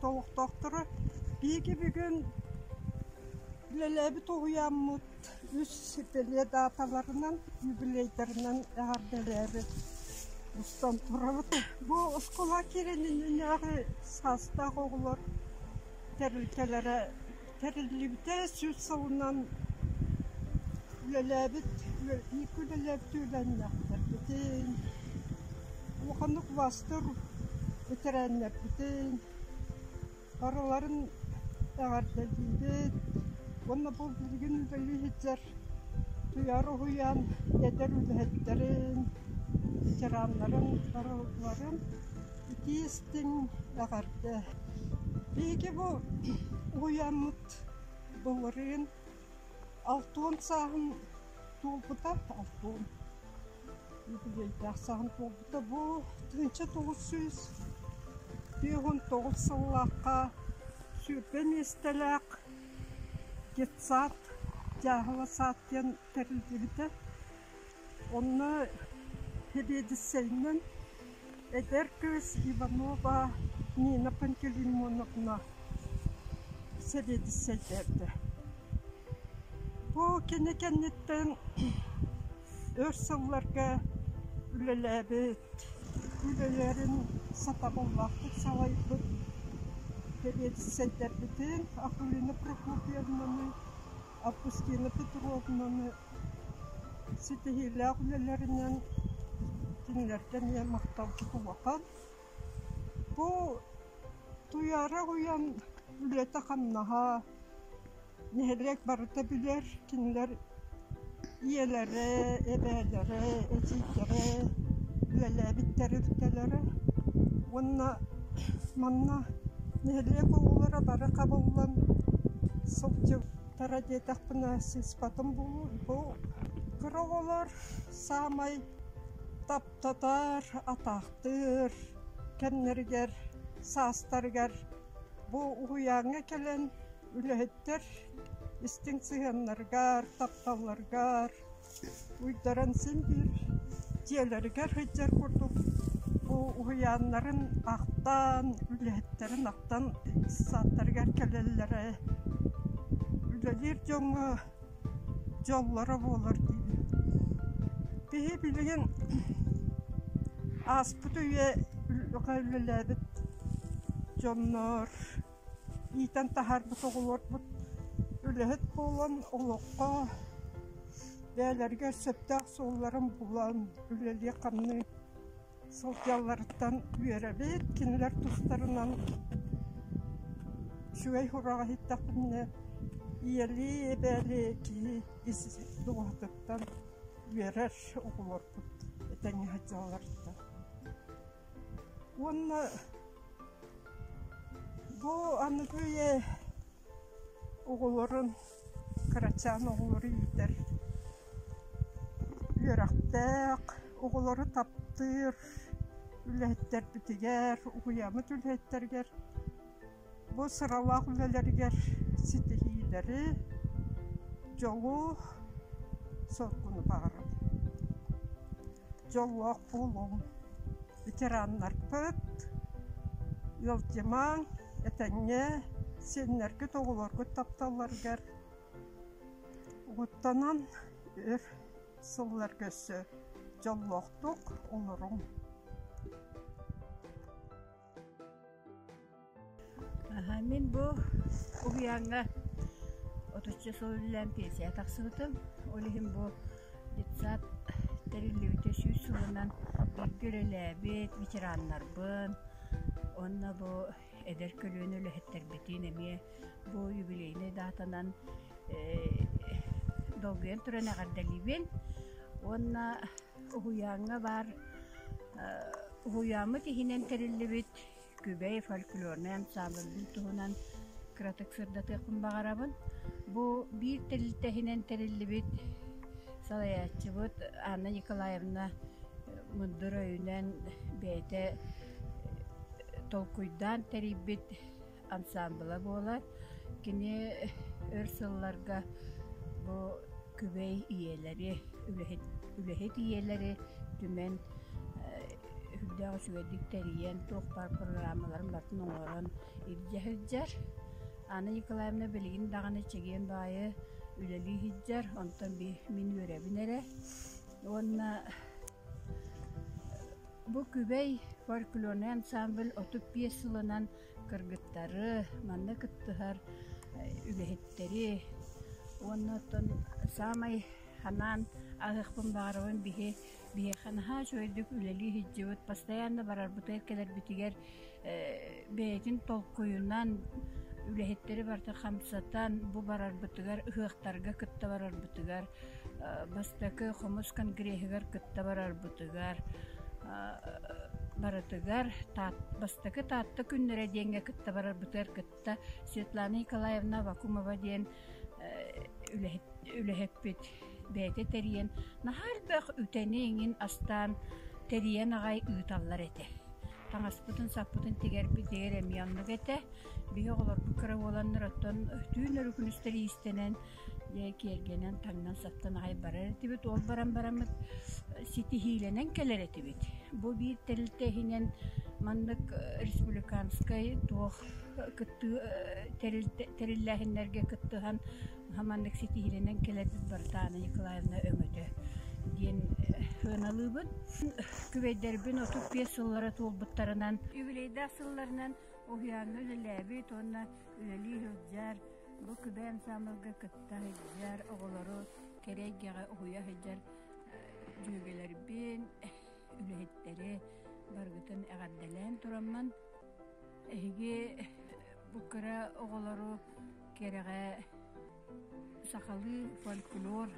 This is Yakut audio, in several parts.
олохтоохторо биһиги бүгүн үлэлээбит уһуйааммыт үс сипилиэ дааталарынан, юбилейдарынан эҕэрдэлээбит устан турабыт. Бу оскуола киирининнээҕи саастаах оҕолор тэрилтэлэрэ тэриллибитэ сүүс сылынан үлэлээбит иикки үлэлээбит үөлэнньэхтэрбитин улаханнык убастыр ветераннарбытын барыларын эҕэрдэлиибит уонна бұл билигин үлэлии сылдьар Уйар уһуйаан эдэр үлэһиттэрин, ветераннарын барыларын итии-истиҥ эҕэрдэ! Биһиги бу уһуйааммыт былырыын алтуон сааһын туолбута, алтуон юбилейдаах сааһын туолбута. Бу тыынча тоҕус сүүс сүүһүн тоҕус сыллаахха сүүрбэ миэстэлээх детсад дьааһыла сад диэн тэриллибитэ онно сэбиэдиссэйинэн эдэр кыыс иванова нина пантелеймоновна сэбиэдиссэйдээбитэ бу кини кэнниттэн өр сылларга үлэлээбит, үлэлэрин сатабыллаахтык салайбыт сэбиэдиссэйдэрбитин Акулина Прокопьевнаны, Августина Петровнаны ситиһиилээх үлэлэринэн кинилэртэн ийэ махталбыт улахан. Бу туйаара уйан үлэтэ-хамнаһа, нэһилиэк барыта билэр кинилэр ийэлэрэ эбээлэрэ эдьиийдэрэ үлэлээбиттэр үлтэлэрэ уонна манна нэһилиэк оҕолоро бары хабыллан сылдьыбыттара диэтэхпинэ сыыспатым бу бу кыра оҕолор саамай таптатар атаахтыыр кэмнэригэр саастарыгар бу уһуйааҥҥа кэлэн үлэһиттэр истиҥ сыһыаннарыгар, тапталларыгар уйдаран син биир дьиэлэригэр сылдьар курдук бу уһуйааннарын ахтан, үлэһиттэрин ахтан сааттарыгар кэлэллэрэ, үлэлиир дьоҥҥо дьоллоро буолар дии. Киһи билигин ааспыт үйэҕэ үлэлээбит дьоннор иитэн таһаарбыт оҕолорбут үлэһит буолан олоххо бэйэлэригэр сөптөөх суолларын булан үлэлии-хамныы сылдьалларыттан үөрэбит кинилэр тустарынан үчүгэй сураҕ иһиттэхпинэ ийэлии эбээли киһи ис дууһатыттан үөрэр оҕолорбут этэҥҥэ сылдьалларыттан Уонна бу аныгы оҕолорун кырачаан оҕолору иитэр үөрэхтээх оҕолору таптыыр үлэһиттэрбитигэр, уһуйааммыт үлэһиттэригэр Бу сыралаах үлэлэригэр ситиһиилэри, дьолу, соргуну баҕарабын. Дьоллоох буолуҥ, ветераннарбыт, ыалдьымаҥ, этэҥҥэ, сиэннэргит, оҕолоргут тапталларыгар угуттанан өр сылларга өссө дьоллоохтук олоруҥ. Мин бу уһуйааҥҥа отучча сыл үлэлээн пенсияҕа тахсыбытым. Ол иһин бу детсад тэриллибитэ сүүс сылынан бииргэ үлэлээбит ветераннарбын уонна бу эдэр көлүөнэ үлэһиттэрбитин эмиэ бу юбилейнай даатанан долгуйан туран эҕэрдэлиибин уонна Уһуйааҥҥа баар уһуйааммыт иһинэн тэриллибит Күбэй фольклорнай ансаамбылбын туһунан кыратык сырдатыахпын баҕарабын. Бу биир тэрилтэ иһинэн тэриллибит салайааччыбыт Анна Николаевна мындыр өйүнэн бэйэтэ толкуйдаан тэрийбит ансаамбыла буолар. Кини өр сылларга бу күбэй ийэлэри, үлэһит, үлэһит ийэлэри түмэн үрдээх үчүгэйдик тэрийэн, туохпар программаларын бартын оҥорон илдьэ сылдьар. Анна Николаевна билигин даҕаны чэгиэн баайы үлэлии сылдьар, онтон мин үөрэбин эрэ. Уонна бу Күбэй фольклорнай ансаамбыл отут биэс сылынан кыргыттары манна кыттыһар үлэһиттэри уонна оттон саамай ханаан аһыахпын баҕарабын биһи биһиэхэ наһаа үчүгэйдик үлэлии сылдьыбыт постоянно барарбытыгар кэлэрбитигэр бэйэтин толкуйунан үлэһиттэри барыта хамсатан бу барарбытыгар ыһыахтарга кытта барарбытыгар бастакы хомус конгреһыгар кытта барарбытыгар барытыгар бастакы Таатта күннэрэ диэҥҥэ кытта барарбытыгар кытта Светлана Николаевна Вакумова диэн үлэһиппит бэйэтэ тэрийэн наһаа элбэх үтэни-иҥин астаан тэрийэн аҕай ыыталлар этэ таҥаспытын-саппытын тигэрбит дэгэр эмиэ оннук этэ биһи оҕолорбут кыра буоланнар оттон түүн өрүкүнүстэр иистэнэн дьэ киэргэнэн таҥнан саптан аҕай барар этибит ол баран бараммыт ситиһиилэнэн кэлэр этибит бу биир тэрилтэ иһинэн маннык республиканскай туох кыттыы тэриллээһиннэргэ кыттыһан маннык ситиһиилэнэн кэлэрбит Бартаана Николаевна өҥөтө диэн сыаналыыбын күбэйдэрбин отут биэс сыллара туолбуттарынан юбилейдаах сылларынан уһуйааҥҥа үлэлээбит уонна үлэлии сылдьар Бу күбэ ансаамбылга кытта сылдьар оҕолору кэрэ эйгэҕэ уһуйа сылдьар дьүөгэлэрбин, үлэһиттэри барыгытын эҕэрдэлээн тураммын, эһиги бу кыра оҕолору кэрэҕэ сахалыы фольклор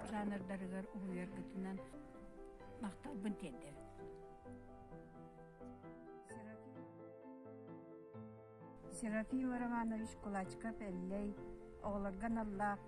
жанрдарыгар уһуйаргытынан махталбын тиэрдэбин. Серафим Романович кулачков-Эллэй оҕолорго аналлаах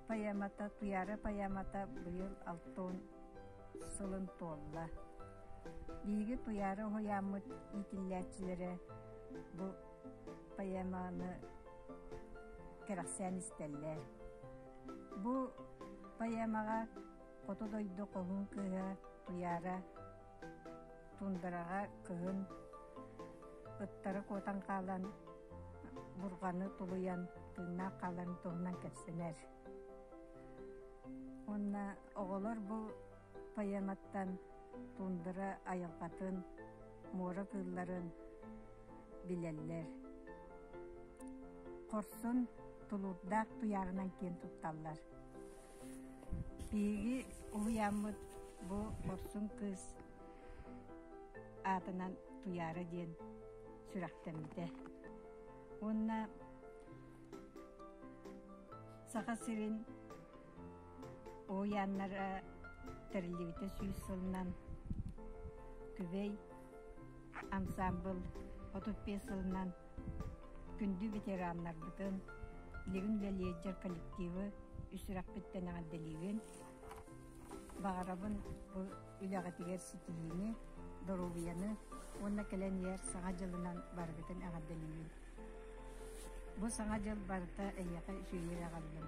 поэмата «Туйаара поэмата» быйыл алтан сылын туолла. Биһиги Туйаара уһуйааммыт иитиллээччилэрэ бу поэманы кэрэхсээн истэллэр. Бу поэмаҕа Хоту дойду хоһун кыыһа Туйаара туундараҕа кыһын ыттары куотан хаалан бурҕаны тулуйан тыыннаах хааларын туһунан кэпсэнэр уонна оҕолор бу поэматтан туундара айылҕатын муора кыылларын билэллэр хорсун тулуурдаах туйааҕынан киэн тутталлар Биһиги уһуйааммыт бу Борсун кыыс аатынан Туйаара диэн сүрэхтэммитэ. Уонна Саха сирин уһуйааннара тэриллибитэ сүүс сылынан күбэй ансаамбыл отут биэс сылынан күндү ветераннарбытын, Левин Лелейдер коллективы үс үрэхпиттэн эҕэрдэлиибин. Баҕарабын бу үлэҕитигэр ситиһиини, доруобуйаны уонна кэлэн иһэр Саҥа дьылынан барыгытын эҕэрдэлиибин. Бу Саҥа дьыл барыта эйиэхэ үчүгэйдик аҕаллым.